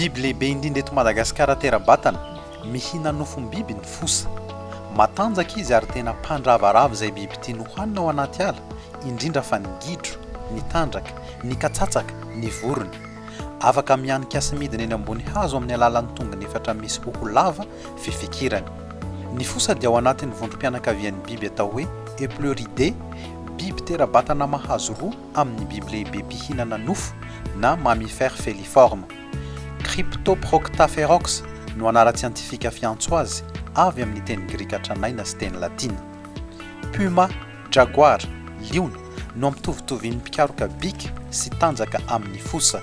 Biby lehibe indrindra eto Madagasikara tera-batana, mihina nofom-biby ny fosa. Matanjaka izy ary tena mpandravarava izay biby tiany hohanina ao anaty ala, indrindra fa ny gidro, ny tandraka, ny katsatsaka, ny vorona. Afaka mihanika sy midina eny ambony hazo amin'ny alalan'ny tongony efatra misy hoho lava fifikirana. Ny fosa dia ao anatin'ny vondrom-pianakavian'ny biby atao hoe Epluridae, biby tera-batana mahazo roa amin'ny biby lehibe mpihinana nofo, na mammifères feliformes. Cryptoproctaferox no anaran-tsiantifika fiantso azy, avy amin'ny teny grika tranaina sy teny latina. Puma, jaguar, liona, no ampitovitovin' ny mpikaroka bika sy tanjaka amin'ny fosa.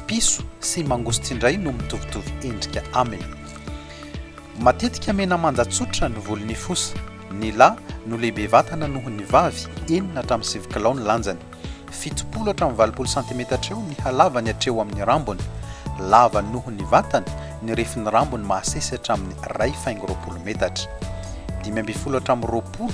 Piso sy mangosty indray no mitovitovy endrika aminy. Matetika mena manja tsotra ny volon'ny fosa. Ny lahy no lehibe vatana noho ny vavy, enina hatramin'ny sivy kilao ny lanjany. Fitopolo hatramin'ny valopolo santimetatra eo ny halavany hatreo amin'ny rambony. Lava noho ny vatana, ny refin'ny rambony mahasesy hatramin'ny iray faingo roapolo metatra. Dimy ambin'ny folo hatramin'ny roapolo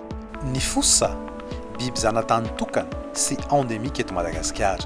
Ny fosa, biby zanatany tokana sy endemique eto Madagasikara.